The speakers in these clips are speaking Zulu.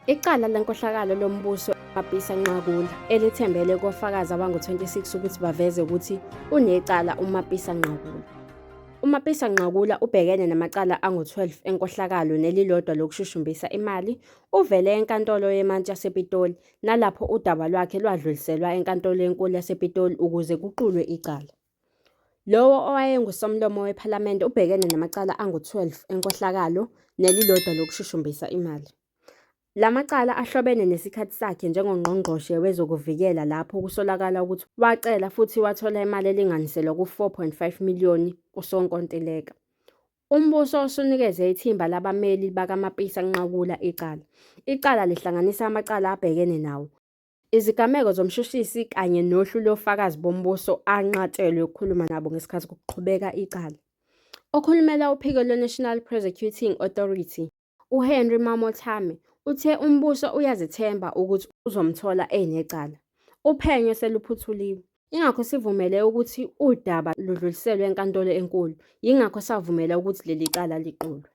Icala lenkohlakalo lombuso Mabhisa Nqakula elithembele kofakazi abangu-26 ukuthi baveze ukuthi unecala uMapisa Nqakula. UMapisa Nqakula ubhekene namacala angu-12 enkohlakalo nelilodwa lokushushumbisa imali, Uvele eNkantolo yeMantshi yasePitoli nalapho udaba lwakhe lwadluliselwa eNkantolo eNkulu yasePitoli ukuze kuqulwe icala. Lowo owayenguSomlomo wePhalamende ubhekene namacala angu-12 enkohlakalo nelilodwa lokushushumbisa imali. La macala ahlobene nesikhathi sakhe njengoNgqongqoshe wezokuVikela lapho kusolakala ukuthi wacela futhi wathola imali elinganiselwa ku-4.5 miliyoni kusonkontileka. Umbuso usunikeze ithimba labameli bakaMapisa kunqakula icala. Icala lihlanganisa amacala abhekene nawo, izigameko zomshushisi kanye nohlu lofakazi bombuso anqatshelwe ukukhuluma nabo ngesikhathi kuqhubeka icala. Okhulumela uphiko lwe-National Prosecuting Authority, UHenry Mamothame uthe umbuso uyazethemba ukuthi uzomthola enecala. Uphenyo seluphuthuliwe. Ingakho sivumele ukuthi udaba ludluliselwe enkantolo enkulu, yingakho savumela ukuthi leli cala liqulwe.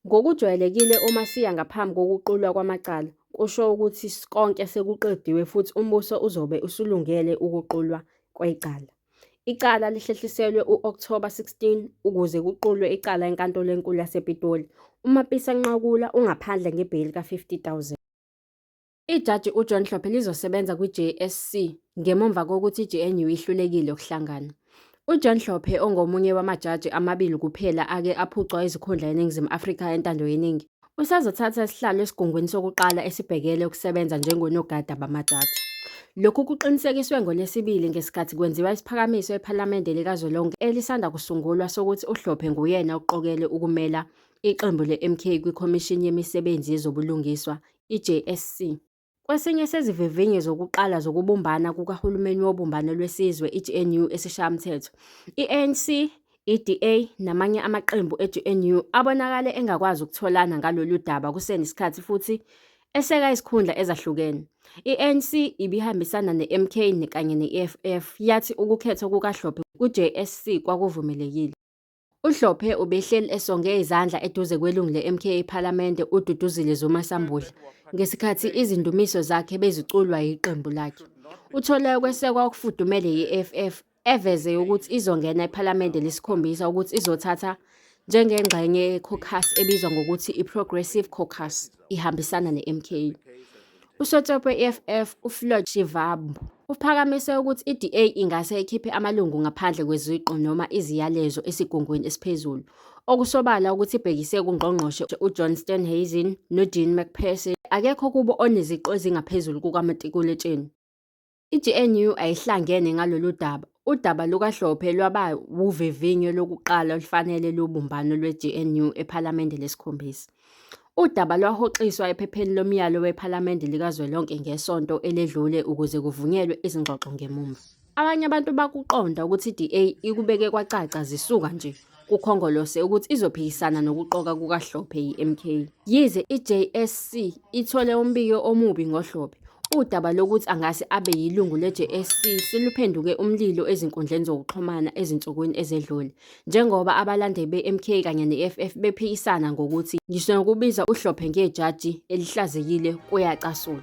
Ngokujwayelekile uma siya ngaphambi kokuqulwa kwamacala, kusho ukuthi konke sekuqediwe futhi umbuso uzobe usulungele ukuqulwa kwecala. Icala lihlehliselwe u-Okthoba 16 ukuze kuqulwe icala eNkantolo eNkulu yasePitoli. UMapisa Nqakula ungaphandle ngebheyili ka-50 000. Ijaji uJohn Hlophe lizosebenza kwiJSC ngemumva kokuthi iGNU ihlulekile ukuhlangana. UJohn Hlophe ongomunye wamajaji amabili kuphela ake aphucwa izikhundla eNingizimu Afrika entando yeningi, Usazothatha isihlalo esigungwini sokuqala esibhekele ukusebenza njengonogada bamajaji. Lokhu kuqinisekiswe ngoLwesibili ngesikhathi kwenziwa isiphakamiso ePhalamende likazwelonke elisanda kusungulwa sokuthi uHlophe nguyena oqokelwe ukumela iqembu le-MK kwiKhomishini Yemisebenzi Yezobulungiswa, iJSC. Kwesinye sezivivinyo zokuqala zokubumbana kukahulumeni wobumbano lwesizwe, i-GNU, esiShayamthetho, i-ANC, i-DA namanye amaqembu e-GNU abonakale engakwazi ukutholana ngalolu daba kusenesikhathi futhi eseka izikhundla ezahlukene. I-ANC ibihambisana ne-MK kanye ne-EFF, yathi ukukhethwa kukaHlophe ku-JSC kwakuvumelekile. UHlophe ubehleli esonge izandla eduze kwelungu le-MK ePhalamende uDuduzile Zuma Sambudla ngesikhathi izindumiso zakhe beziculwa yiqembu lakhe. Uthole ukwesekwa okufudumele yi-EFF eveze ukuthi izongena ePhalamende lesikhombisa ukuthi izothatha njengengxenye yekhokhasi ebizwa ngokuthi i-Progressive Caucus. ihambisana ne-MK. Usotsopo we-EFF uFloyd Shivambu uphakamise ukuthi i-DA ingase ikhiphe amalungu ngaphandle kweziqu noma iziyalezo esigungwini esiphezulu, okusobala ukuthi ibhekise kuNgqongqoshe uJohn Steenhuisen noDean McPherson, akekho kubo oneziqu ezingaphezulu kukamatikuletsheni. I-GNU ayihlangene ngalolu daba. Udaba lukaHlophe lwaba wuvivinyo lokuqala olufanele lobumbano lwe-GNU ePhalamende lesikhombisa. Udaba lwahoxiswa ephepheni lomyalo wePhalamende likazwelonke ngesonto eledlule ukuze kuvunyelwe izingxoxo ngemumva. Abanye abantu bakuqonda ukuthi i-DA ikubeke kwacaca zisuka nje kuKhongolose ukuthi izophikisana nokuqoka kukaHlophe yi-MK. Yize iJSC ithole umbiko omubi ngoHlophe, udaba lokuthi angase abe yilungu leJSC seluphenduke umlilo ezinkundleni zokuxhumana ezinsukwini ezedlule, njengoba abalandeli beMK kanye neFF bephikisana ngokuthi ngisho nokubiza uHlophe ngejaji elihlazekile kuyacasula.